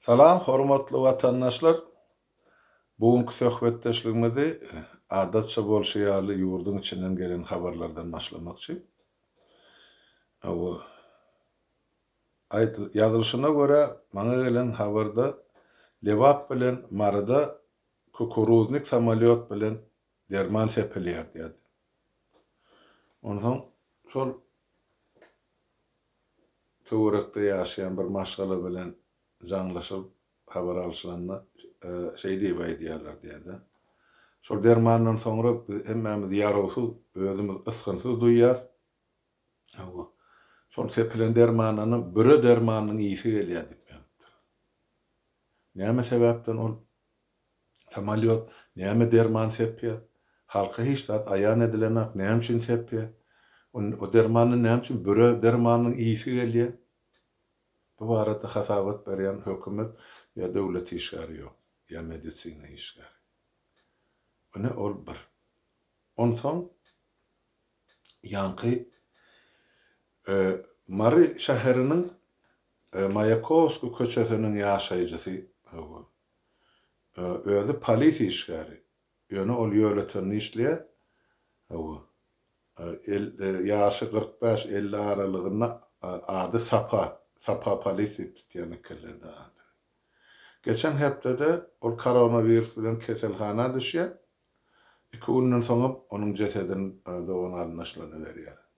Salam hormatly watandaşlar! Bu günki söhbetdeşligimizi adatça bolşy ýaly ýurduň içinden gelen habarlardan başlamakçy. Aýdyl, ýazylyşyna görä maňa gelen habarda Lebap bilen Maryda kukuruznik samolýot bilen Derman sepilýär diýerdi. Onsoň şol töwerekde ýaşaýan bir maşgala bilen jaňlaşylyp habar alşylanda şeý diýip aýdýarlar diýerdi. Şol dermandan soňra biz hemmämiz ýarawsyz, özümiz ysgynsyz duýýas. Hawa, şol sepilen dermandanam büre dermanynyň ýyýsi gelýär diýip ýazypdyr. Näme sebäpden ol Samalýot näme derman sepýär? Halka hiç zat aýan edilenok, näme üçin sepýär? O dermandan näme üçin büre dermanynyň ýyýsi gelýär? Bu barada hasabat berýän hökümet ýa döwlet işgäri ýok, ýa medisina işgäri. Ine, ol bir. Onsoň ýaňky Mary şäheriniň Maýakowskiý köçesiniň ýaşaýjysy, hawa, Özi polisiýa işgäri. Ýöne ol ýöletinde işleýär. Hawa. Ýaşy kyrk bäş, elli aralygynda. Ady Sapa. Sapa Polis diýip tutýan ekenler-de adyny. Geçen hepdede ol koronawirus bilen keselhana düşýär. Iki günden soňam onuň jesedini dogan-garyndaşlaryna berýärler.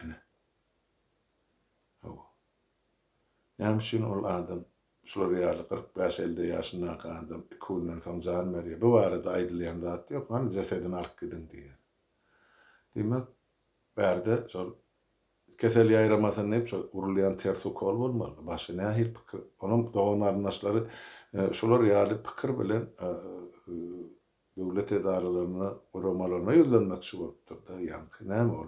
Ine. Hawa. Näme üçin ol adam, şular ýaly kyrk bäş-elde ýaşyndaky adam iki günden soň jan berýär? Bu barada aýdylýan zat ýok, hany jesedini alyp gidiň diýýär. Diýmek, bärde şol kesel ýaýramasyn diýip, şol urulýan ters ukol bolmalydy. Başga nähili pikir? Onuň dogan-garyndaşlary şular ýaly pikir bilen Döwlet edaralaryna guramalaryna ýüzlenmekçi bolupdyrda ýaňky näme ol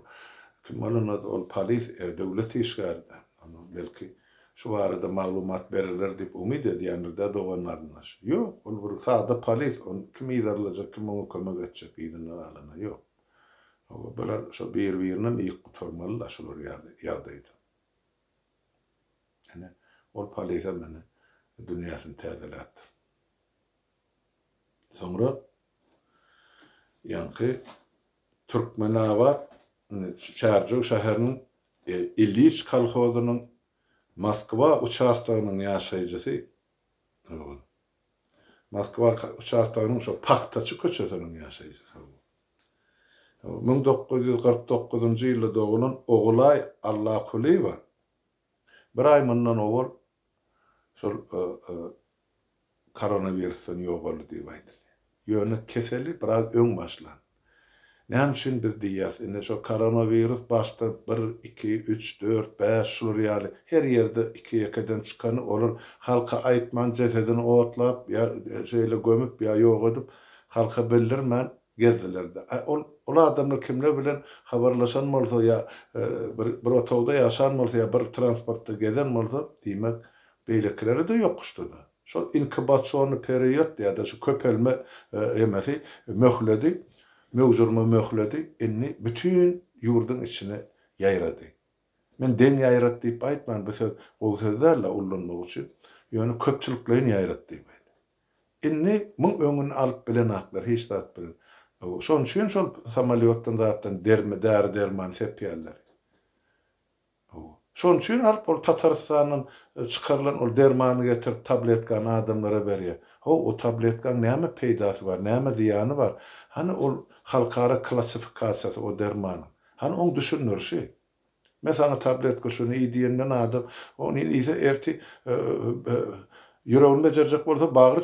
kim bolanda ol polis e döwlet işgäri dä onda belki şu barada maglumat beriler diýip umyt edýändir dä doganlaryndan şu ýok ol bir sada polis ony kim yzarlajak kim oňa kömek etjek yzyndan alana ýok oba bular şo bir birinem ýyk gutarmaly la şular ýaly ýagdaýda ine ol polisem ine dünýäsini täzeläpdir. Soňra ýaňky Türkmenabat, indi Çärjew şäheriniň Ilýiç kolhozynyň Moskwa uçastogynyň ýaşaýjysy, Moskwa uçastogynyň şo Pagtaçy köçesiniň ýaşaýjysy, müň dokuz ýüz kyrk dokuzynjy ýylda dogulan Ogulaý Allakulyýewa Bir aý mundan owal şol koronawirusdan ýogaldy diýip aýdylýar. Ýöne keseli biraz öň başlan. Näme üçin biz diýýäs, indi şo koronawirus başda bir, iki, üç, dört, bäş şular ýaly her ýerde iki-ýekeden çykany olar halka aýtman jesedini otlap ýa şeýle gömüp ýa ýok edip halka bildirmän Gezdiler-de. Aý, ol, ol adamlar kimler bilen habarlaşan bolsa ýa bir, bir otagda ýaşan bolsa ýa bir transportda gezen bolsa, diýmek, beýlekileri-de ýokuşdy-da. Şol inkubasionny period diýýär-de, şu köpelme emesi, möhledi, möwjürme möhledi indi bütin ýurduň içine ýaýrady. Men deň ýaýrat diýip aýtman, bu söz gowy söz däl-de ullanmak üçin, ýöne köpçülikleýin ýaýrat diýip aýdýan. Indi muň öňüni alyp bilenaklar hiç zat bilen. Şoň üçin şol samalýotdan zatdan dermi däri derman sepýärler. Şoň üçin alyp ol Tatarystandan çykarylan ol dermany getirip tabletkany adamlara berýär. How o tabletkaň näme peýdasy bar, näme zyýany bar? Hany ol halkara klassifikasiýasy o dermanyň? Hany oň düşündirişi? Men saňa tabletka şuny iý diýenden adam ony iýse ertir ýüregini bejerjek bolsa bagry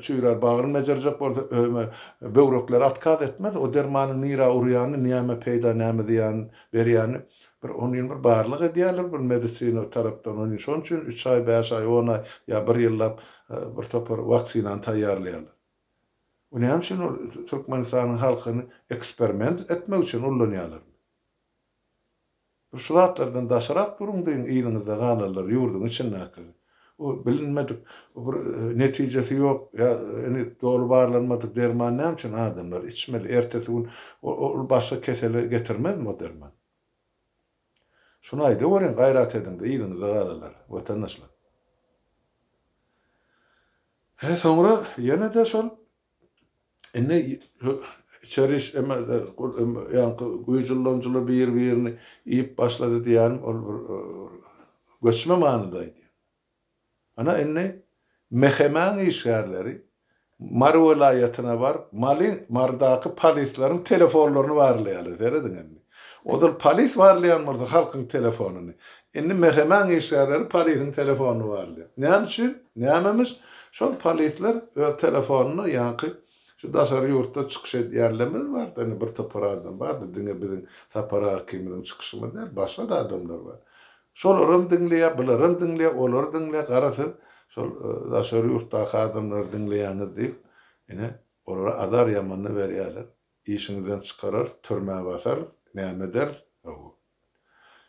çüýrär, bagryny bejerjek bolsa ömer, böwrekleri atkaz etmez. O dermanyň nirä urýany, näme peýda, näme zyýan berýäni bir onin bir barlyk edýärler bir medisina tarapdan onin şonuň üçin üç aý, bäş aý, on aý ýa bir ýyllap bir topar waksinany taýýarlaýarlar. Bu näme üçin ol türkmenistanyň halkyny eksperiment etmek üçin ullanýarlar. Bir şu zatlardan daşarak duruň deýin yzyňyzda galarlar ýurduň içindäki o bilinmedik o bir netijesi ýok ýa indi doly barlanmadyk derman näme üçin adamlar içmeli ertesi gün ol başga kesele getirmezmi o derman şuny aýdaweriň gaýrat ediňde yzyňyzda galalar watandaşlar. He soňra ýene-de şol Indi içeri iş emelde ýaňky güýç ulanyjylar bir-birini iýip başlady diýýänim ol bir göçme manyda aýdýan. Ana indi MHM-iň işgärleri Mary welaýatyna baryp Maly Marydaky polisleriň telefonlaryny barlaýarlar. Serediň indi. Ozal polis barlaýan bolsa halkyň telefonyny. Indi MHM-iň işgärleri polisiň telefonyny barlaýar. Näme üçin? Nämemiş? Şol polisler öz telefonyny ýaňky şu daşary ýurtda çykyş edýänlerimiz bar-da, indi bir topar adam bar-da, diňe biziň Sapar aga ikimiziň çykyşymyz däl, başga-da adamlar bar. Şolaram diňleýär, bularam diňleýär, olary diňleýär, gara siz şol daşary ýurtdaky adamlary diňleýäňiz diýip, ine, olara azar ýamanyny berýärler. Işiňizden çykararys, türmä basarys, näme ederis, hawa.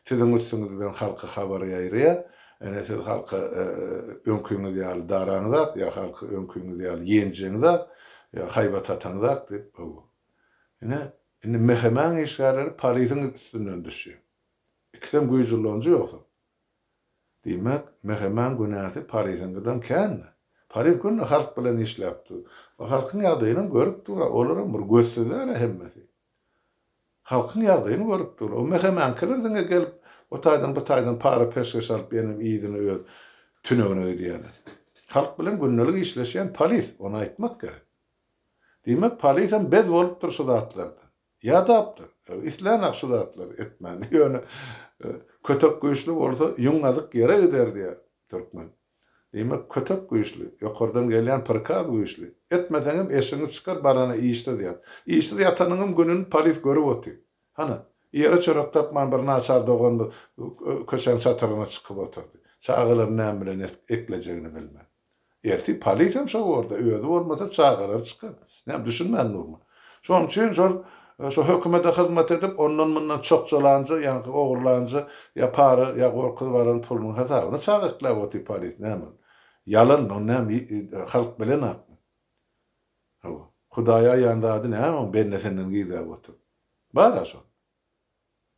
Siziň üstüňiz bilen halka habar ýaýraýar, ene siz halka öňkiňiz ýaly daraňyzak, ýa halky öňkiňiz ýaly ýenjeňizak, ýa haýbat ataňyzak diýip, hawa. Ine, indi MHM-iň işgärleri polisiň üstünden düşýär. Ikisem güýç ullanyjy ýogsam. Diýmek, Meheman günäsi Pariziňkiden känmi? Pariz günde halk bilen işläp dur. Ol halkyň ýagdaýynam görüp dur, olaram bir gözsüzler-ä hemmesi. Halkyň ýagdaýyny görüp dur. O Mehemankiler diňe gelip, o taýdan, bu taýdan para-peşgeş alyp ýöne yzyna öz tünegine gidýärler. Halk bilen gündelik işleşýän Paliz, ony aýtmak gerek. Diýmek, Palizem bez bolupdyr şu zatlardan. Ýadapdyr. Islän-ä şu zatlary etmäni. Ýöne kötek güýçli bolsa, ýüň gazyk ýere gider diýýär türkmen. Diýmek, kötek güýçli, ýokardan gelýän prikaz güýçli. Etmeseňem eşigiňi çykar, barana işsiz ýat. Işsiz ýatanyňam gününi polis görüp otyr. Hany, ýere çörek tapman bir naçar doganymyz köçäň çatrygyna çykyp otyrdy. Çagalaryny näme bilen eklejegini bilmän. Ertir polisem şo borda, özi bolmasa çagalary çykar. Näme düşünmän durma. Şonuň üçin şol şo hökümede hyzmat edip, ondan mundan çokjalanja, ýaňky ogurlanja ýa para ýa gorkuzyp alan pulunyň hasabyna çaga ikläp otyr polis näme ol. Ýalan ony näme halk bilen akmy. Hawa. Hudaýa aýan zady näme oň bende senden gizläp otyr. Bara şol.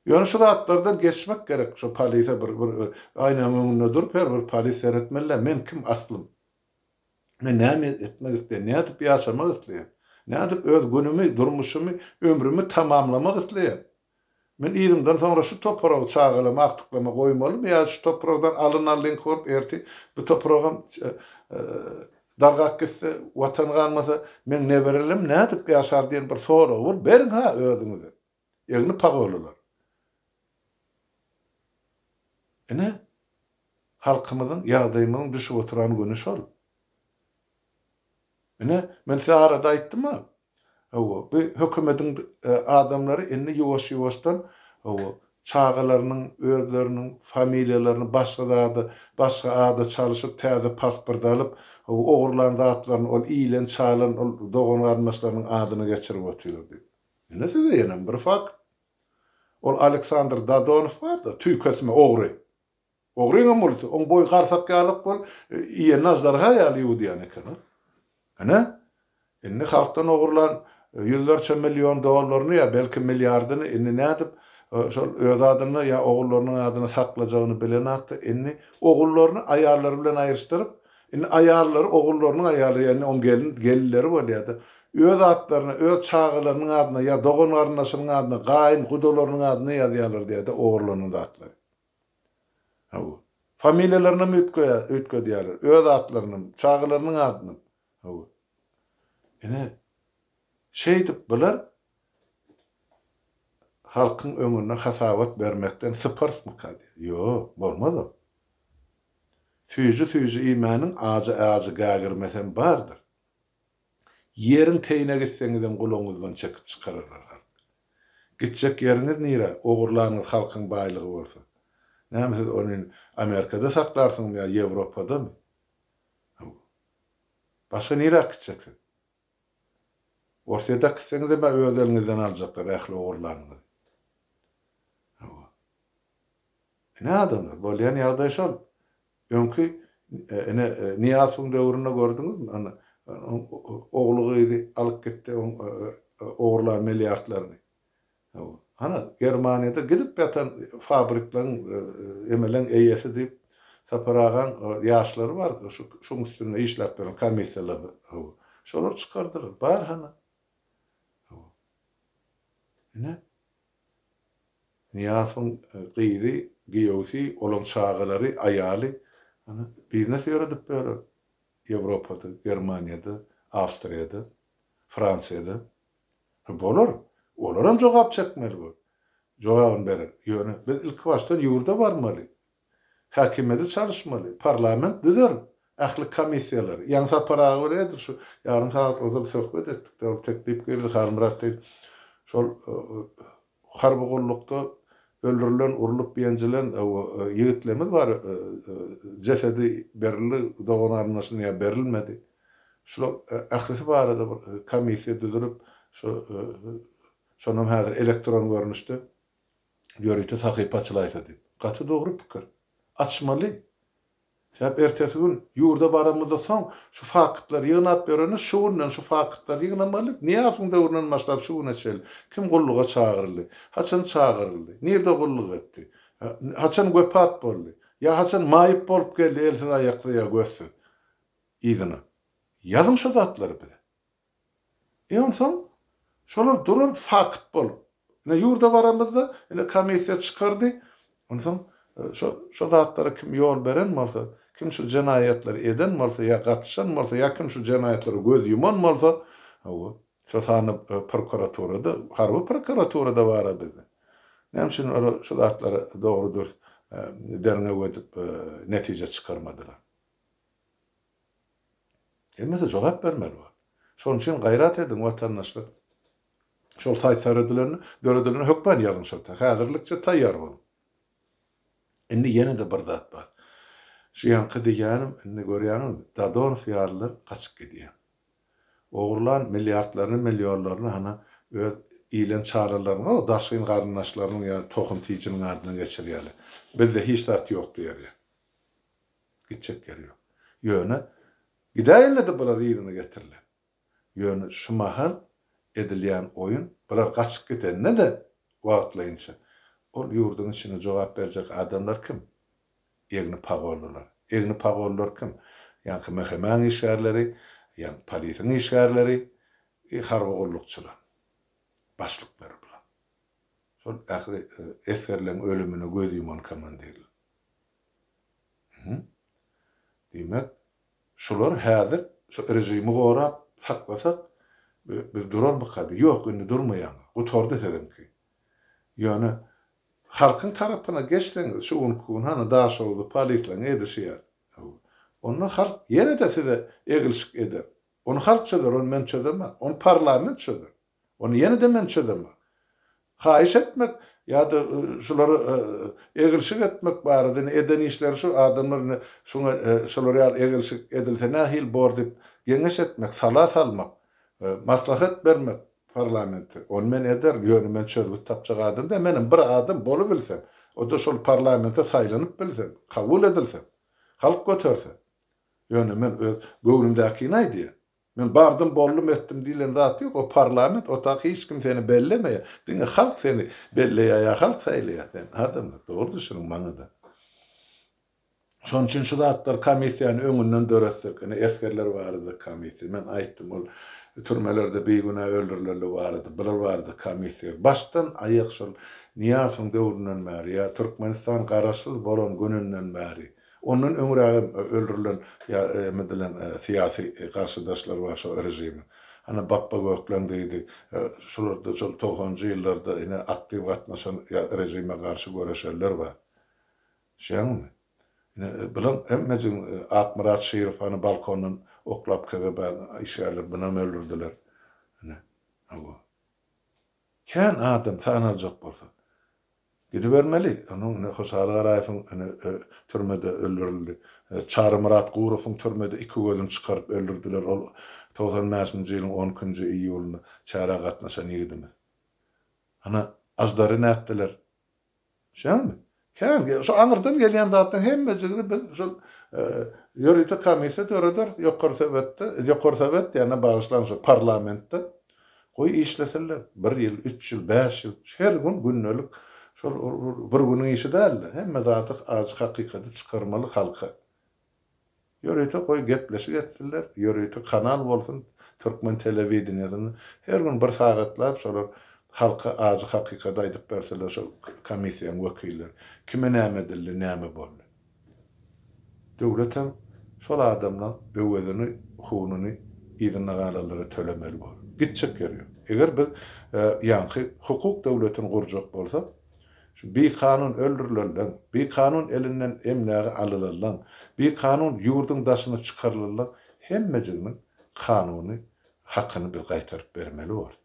Ýöne şu zatlardan geçmek gerek, şu polise bir bir aýnaň öňünde durup her bir polis seretmelidä men kim aslym? Men näme etmek isleýän, nädip ýaşamak isleýän? Nädip öz günümi, durmuşymy, ömrümi tamamlamak isleýän? Men yzymdan soňra şu topragy, çagalamy agtyklama goýmalymy ýa şu topragdan alyn alynky bolup ertir bu topragam dargap gitse, watan galmasa meň neberelerim nädip ýaşar diýen bir soragy bir beriň-hä özüňize. Egni pagollylar. Ine, halkymyzyň, ýagdaýymyzyň düşüp oturan güni şol. Ine, men size arada aýtdym-a, hawa, bu hökümediň adamlary indi ýuwaş-ýuwaşdan, hawa, çagalarynyň özleriniň familiýalaryny başga zada, başga ada çalyşyp, täze pasport alyp, hawa, ogurlan zatlaryny, ol iýlen-çalan, ol dogan-garyndaşlarynyň adyna geçirip otyrlar diýip. Ine size ýenem bir fakt. Ol Aleksandr Dadonow barda, tüýkesme ogry. Ogryňam bolsa, oň boýy garsak ýalak bol, iýenini aždarha ýaly ýuwudýan eken ol. Ine, indi halkdan ogurlan ýüzlerçe million dollaryny ýa belki milliardyny indi nädip şol öz adyna ýa ogullarynyň adyna saklajagyny bilenakda, indi ogullaryny aýallary bilen aýryşdyryp, Indi aýallary, ogullarynyň aýallary, ýagny oň gelin, gelinleri bolýar-da, öz atlaryna, öz çagalarynyň adyna ýa dogan-garyndaşynyň adyna, gaýyn, gudalarynyň adyna ýazýarlar diýär-de ogurlanan zatlary. Hawa. Familiýalarynam üýtgeýär, üýtgedýärler. Öz atlarynam, çagalarynyň adynam. Hawa. Ine, şeýdip bular halkyň öňünde hasabat bermekden syparsmyka diýýär. Ýok, bolmaz-a. Süýji-süýji iýmäniň ajy-ajy gägirmesem bardyr. Ýeriň teýine gitseňizem gulagyňyzdan çekip çykararlar halk. Gitjek ýeriňiz nire, ogurlanyňyz halkyň baýlygy bolsa? Näme siz ony Amerikada saklarsyňyzmy ýa Ýewropadamy? Başga nirä gitjek siz? Orsýet äkitseňizem ä öz eliňizden aljaklar ähli ogurlanyňyzy. Hawa. Ine adamlar, bolýan ýagdaý şol. Öňki ine Nyýazowyň döwründe gördüňizmi, ine ogly gyzy alyp gitdi oň ogurlan milliardlaryny. Hana, Germaniýada gidip ýatan fabrikleriň emeleň eýesi diýip, Sapar agaň ýaşlary bar, şuň üstünde işläp ýören komissiýalary. Hawa. Şolar çykardylar. Bar hana. Hawa. Ine. Nyýazowyň gyzy, giýewsi, olaň çagalary, aýaly, hana, biznes ýöredip ýörer. Ýewropada, Germaniýada, Awstriýada, Fransiýada. Hä bolar, olaram jogap çekmeli bol. Jogabyny berer. Ýöne biz ilkibaşdan ýurda barmaly. Häkimiýeti çalyşmaly. Parlament düzer. Ähli komissiýalary. Ýaňy Sapar aga bilen edil şu ýarym sagat ozal söhbet etdik-de, ol teklip geldi, Halmyrat diýip, şol Harby gullukda öldürilen, urlup ýenjilen ýigitlerimiz bar. Jesedi berildi, dogan arnaşyna ýa berilmedi. Şular ählisi barada bir komissiýa düzülip, şu şonam häzir elektron görnüşde ýörite sahypa açylaýsa diýip. Gaty dogry pikir. Açmaly. Sebäbi ertesi gün ýurda baramyzda soň şu faktlary ýygnap ýöreniz, şu günden şu faktlary ýygnamaly, Nyýazowyň döwründen başlap şu güne çenli kim gulluga çagyryldy, haçan çagyryldy, nirde gulluk etdi, haçan wepat boldy, ýa haçan maýyp bolup geldi elsiz-aýaksyz ýa gözsüz, yzyna. Ýazyň şu zatlary bize. Onsoň şolar duran fakt bolup. Ine ýurda baramyzda, ine komissiýa çykardy. Onsoň şo şo zatlara kim ýol beren bolsa, kim şu jenaýatlary eden bolsa ýa gatyşan bolsa ýa kim şu jenaýatlara göz ýuman bolsa, hawa, şo sanda prokuraturada, harby prokuraturada bar-a bizde. Näme üçin olar şu zatlary dogry-dürs derňew edip netije çykarmadylar? Hemmesi jogap bermeli bor. Şonuň üçin gaýrat ediň watandaşlar. Şol saýt seredilerini döredilen hökman ýazyň şol ta häzirlikçe taýýar boluň. Indi ýene-de bir zat bar. Şu ýaňky diýýänim indi görýäňizmi Dadonow ýalylar gaçyp gidýär. Ogurlan milliardlaryny millionlaryny hana öz ilen çaralarynyň o daşgyn garyndaşlarynyň ýa tohum tijiniň adyna geçirýärler. Bizde hiç zat ýok diýerýär. Gitjek ýeri ýok. Ýöne, gidäýerler-de bular yzyna getiriler. Ýöne şu mahal edilýän oýun, bular gaçyp gidende-de wagtlaýynça, ol ýurduň içinde jogap berjek adamlar kim? Egni pagollylar. Egni pagollylar kim? Ýaňky MHM-iň işgärleri, ýaňky polisiň işgärleri, e, harby gullukçylar. Başlyklary bular. Şol ähli esgerleriň ölümine göz ýuman komandirler. Hä? Diýmek, şular häzir şu režimi gorap saklasak, biz durarmykady? Ýok, indi durmaýaňyz. Gutardy siziňki. Ýöne halkyň tarapyna geçseňiz, şu günki gün hany Daşoguzly polisleriň edişi ýaly. Onda halk ýene-de size eglişik eder. Ony halk çözer, ony men çözemok. Ony parlament çözer. Ony ýene-de men çözemok. Haýyş etmek ýa-da şulara egilşik etmek barada indi eden işleri şu adamlar indi şuňa şular ýaly egilşik edilse nähili bor diýip geňeş etmek, sala salmak, maslahat bermek parlamente, ony men ederin, ýöne men çözgüt tapjak adam däl, menem bir adam bolubilsem, o-da şol parlamente saýlanyp bilsem, kabul edilsem, halk göterse. Ýöne men öz göwnümdäkini aýdýan. Men bardym boldum etdim diýlen zat ýok o parlament otagy hiç kim seni bellemeýär diňe halk seni belleýär ýa halk saýlaýar seni adamlar dogry düşüniň maňada şonuň üçin şu zatlar komissiýany öňünden döretsek ine esgerler barada komissiýa men aýtdym ol türmelerde bigünä öldürilenler barada bular barada komissiýa başdan aýak şol Nyýazowyň döwründen bäri ýa Türkmenistan garaşsyz bolan gününden bäri Ondan öňrägem öldürilen ýa emedilen syýasy garşydaşlar bar şo režimiň. Ana Bapba Gökleň diýdi. Şularda şol togsanjy ýyllarda ine aktiw gatnaşan ýa režime garşy göreşenler bar. Düşýäňizmi? Ine bulan hemmejigiň Akmyrat Şirow hany balkondan oklap KGB-niň işgärleri bunam öldürdiler. Ine. Hawa. Kän adam sanaljak bolsa. Gidibermeli. Onuň ine Hoşaly Garaýewiň ine türmede öldürildi. Çarymyrat Gurowyň türmede iki gözüni çykaryp öldürdiler. Ol togsan bäşinji ýylyň on ikinji iýulynda çärä gatnaşan ýigidimiz. Ana Aždary nätdiler. Şeýdämi? Kän gel, şu aňyrdan gelýän zatlaryň hemmejigini biz şol ýörite komissiýa dörederis, ýokary sowetde, ýokary sowet diýende bagyşlaň şu parlamentde goý işlesinler, bir ýyl, üç ýyl, bäş ýyl, her gün gündelik şol bir günüň işi däl-de, hemme zady, ajy hakykaty çykarmaly halka. Ýörite goý gepleşik etsinler, ýörite kanal bolsun türkmen telewideniýesinde, her gün bir sagatlap şolar halka ajy hakykady aýdyp berseler şol komissiýaň wekilleri, kime näme edildi, näme boldy. Döwletem şol adamlaň öwezini, hununy yzynda galanlara tölemeli bolar. Gitjek ýeri ýok. Eger biz ýaňky hukuk döwletini gurjak bolsak, Şu bikanun öldürilenleň, bikanun elinden emlägi alylanlaň, bikanun ýurduň daşyna çykarylanlaň hemmejiginiň kanuny hakyny biz gaýtaryp bermeli bolduk.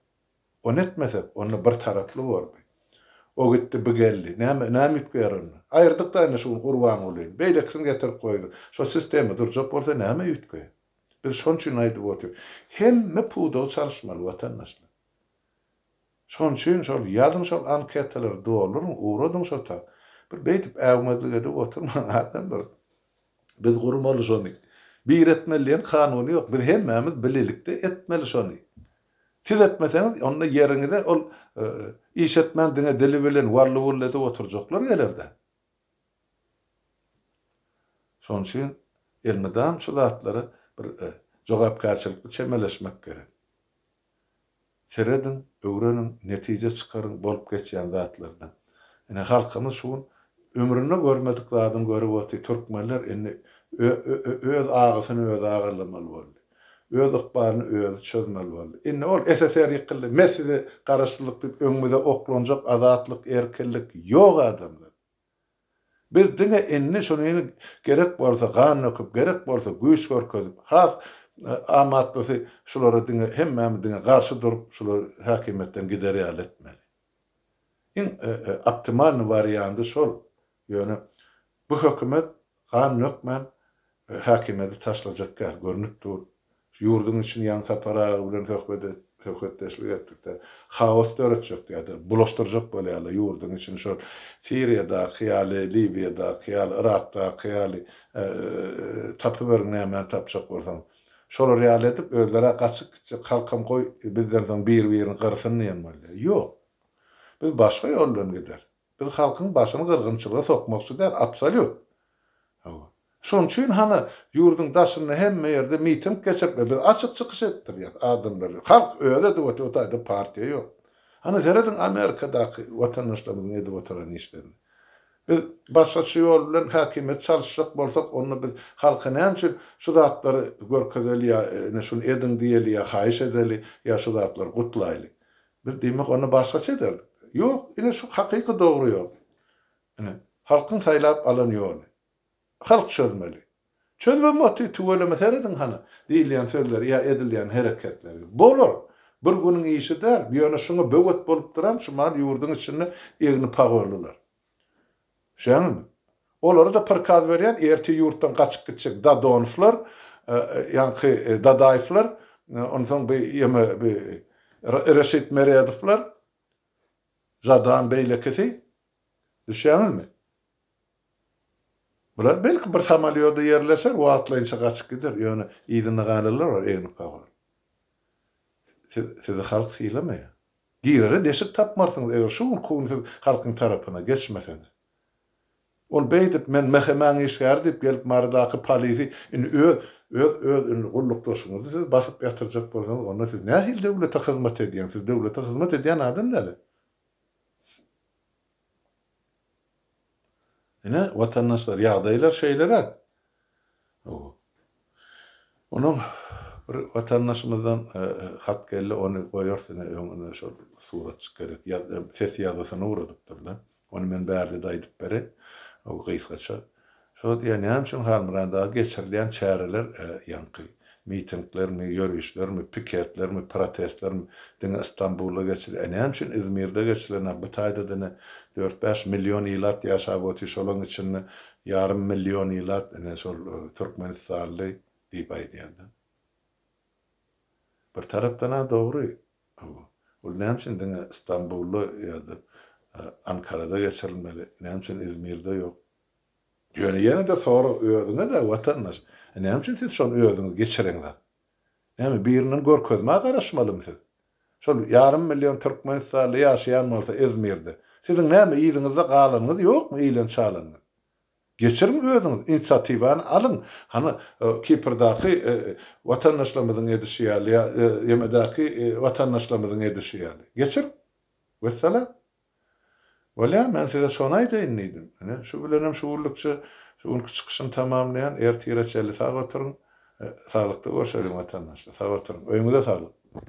Ony etmesek, onda bir taraply boldy. O gitdi, bu geldi. Näme, näme üýtgär onda? Aýyrdyk-da indi şu gün Gurbangulyny. Beýlekisini getirip goýduk. Şo sistema durjak bolsa näme üýtgär? Biz şon üçin aýdyp otyrys. Hemme pudagy çalyşmaly, watandaşlar. Şoň üçin şol ýazyň şol anketalary dolduryň ugradyň şo ta. Bir beýdip äwmezlik edip oturmaň adam bir biz gurmaly şony. Bir etmeli diýen kanuny ýok biz hemmämiz bilelikde etmeli şony. Siz etmeseňiz onda ýeriňize ol iş etmän diňe dili bilen wally wully edip oturjaklar gelerde. Şoň üçin elmydam şu zatlary bir jogapkärçilikli çemeleşmek gerek. Serediň, öwreniň, netije çykaryň bolup geçýän zatlardan. Ine halkymyz şu gün ömründe görmedik zadyny görüp otyr, türkmenler indi ö-ö-ö-öz agysyny özi agyrlamaly boldy. Öz ykbalyny özi çözmeli boldy. Indi ol SSR ýykyldy, me size garaşsyzlyk diýip öňümize oklanjak azatlyk, erkinlik ýok adamlar. Biz diňe indi şuny gerek bolsa gan döküp, gerek bolsa güýç görkezip, has amatlysy şulara diňe hemmämiz diňe garşy durup, şulary häkimiýetden gider ýaly etmeli. Iň optimalnyý wariandy şol. Ýöne bu hökümet Gan dökmän, häkimiýeti taşlajakka görnüp dur. Şu ýurduň içini ýaňy Sapar aga bilen söhbet söhbetdeşlik etdikde, haos döretjek ýa-da bulaşdyrjak bolýarlar ýurduň içini şol Siriýadaky ýaly, Liwiýadaky ýaly, Yrakdaky ýaly tapyberiň nämäni tapjak bolsaňyz. Şolar ýaly edip özleri-ä gaçyp gitjek, halkam goý bizden soň bir-birini gyrsyn diýen bolýar. Ýok. Biz başga ýoldan gideris. Biz halkyň başyny gyrgynçylyga sokmakçy däl, absolýut. Hawa. Şonuň üçin hany ýurduň daşynda hemme ýerde miting geçiripler. Biz açyk çykyş etdirýäs adamlary. Halk özi edip otyr, bu taýda partiýa ýok. Hany serediň Amerikadaky watandaşlarymyzyň edip oturan işlerini. Biz başgaça ýol bilen häkimiýeti çalyşjak bolsak, onda biz halka näme üçin şu zatlary görkezeli ýa ine şuny ediň diýeli ýa haýyş edeli ýa şu zatlary gutlaýly. Biz diýmek ony başgaça ederdik. Ýok, ine şu hakyky dogry ýol. Ine, halkyň saýlap alan ýoly. Halk çözmeli. Çözmem otdy, tüweleme serediň hany, diýilýän sözleri ýa edilýän hereketleri. Bolar. Bir günüň işi däl. Ýöne şuňa böwet bolup duran şu mal ýurduň içinde egni pagorlylar. Şeýdäňizmi? Olara-da prikaz berýän, ertir ýurtdan gaçyp gitjek Dadonowlar, ýaňky Dadaýewler, onsoň bu ýeme bu Reşit Meredowlar, Žadan beýlekisi. Düşýäňizmi? Bular belki bir samolýoda ýerleşer, wagtlaýynça gaçyp gider, ýöne yzynda galanlar bar egnip-gabaryp. Sizi halk sylamaýar. Girere deşik tapmarsyňyz, eger şu günki gün siz halkyň tarapyna geçmeseňiz. Ol beýdip, men MHM-iň işgäri diýip gelip Marydaky polisi indi öz, öz, öz indi gullukdaşyňyzy siz basyp ýatyrjak bolsaňyz, onda siz nähili döwlete hyzmat edýäňiz, siz döwlete hyzmat edýän adam däl-ä. Ine, watandaşlar, ýagdaýlar şeýleräk. Hawa. Onuň bir watandaşymyzdan hat geldi, ony goýarys ine öňüne şol suratjyk gerek, ýa-da ses ýazgysyny ugradypdyr-da. Ony men bärde-de aýdyp bereýin, gysgaça. Şo wagt ýa näme üçin Halmyrandaga geçirilýän çäreler, ýaňky mitinglermi, ýörişlermi, piketlermi, protestlermi diňe Istanbulda geçilýär, e näme üçin Izmirde geçilenok, bu taýda diňe dört-bäş million ilat ýaşap otyr, şolaň içinde ýarym million ilat ine şol türkmenistanly diýip aýdýar-da. Bir tarapdan-a dogry, Hawa. Ol näme üçin diňe Stambulda ýa-da Ankarada geçirilmeli, näme üçin Izmirde ýok? Ýöne ýene-de sorag özüňe-dä, watandaş, e näme üçin siz şony özüňiz geçireňzak? Näme, birinden görkezmä garaşmalymy siz? Şol ýarym million türkmenistanly ýaşaýan bolsa Izmirde, siziň näme yzyňyzda galanyňyz ýokmy, iýlen-çalanyňyz? Geçiriň özüňiz, inisiatiwany alyň. Hany, Kiprdaky watandaşlarymyzyň edişi ýaly ýa YM-däki watandaşlarymyzyň edişi ýaly. Geçiriň. Wessalam. Bolýamy, men size şony aýdaýyn diýdim. Ine, şu bilenem şu günlükçe şu günki çykyşymy tamamlaýan. Ertire çenli sag oturyň. Saglykda görşeliň watandaşlar. Sag oturyň. Öýüňize saglyk.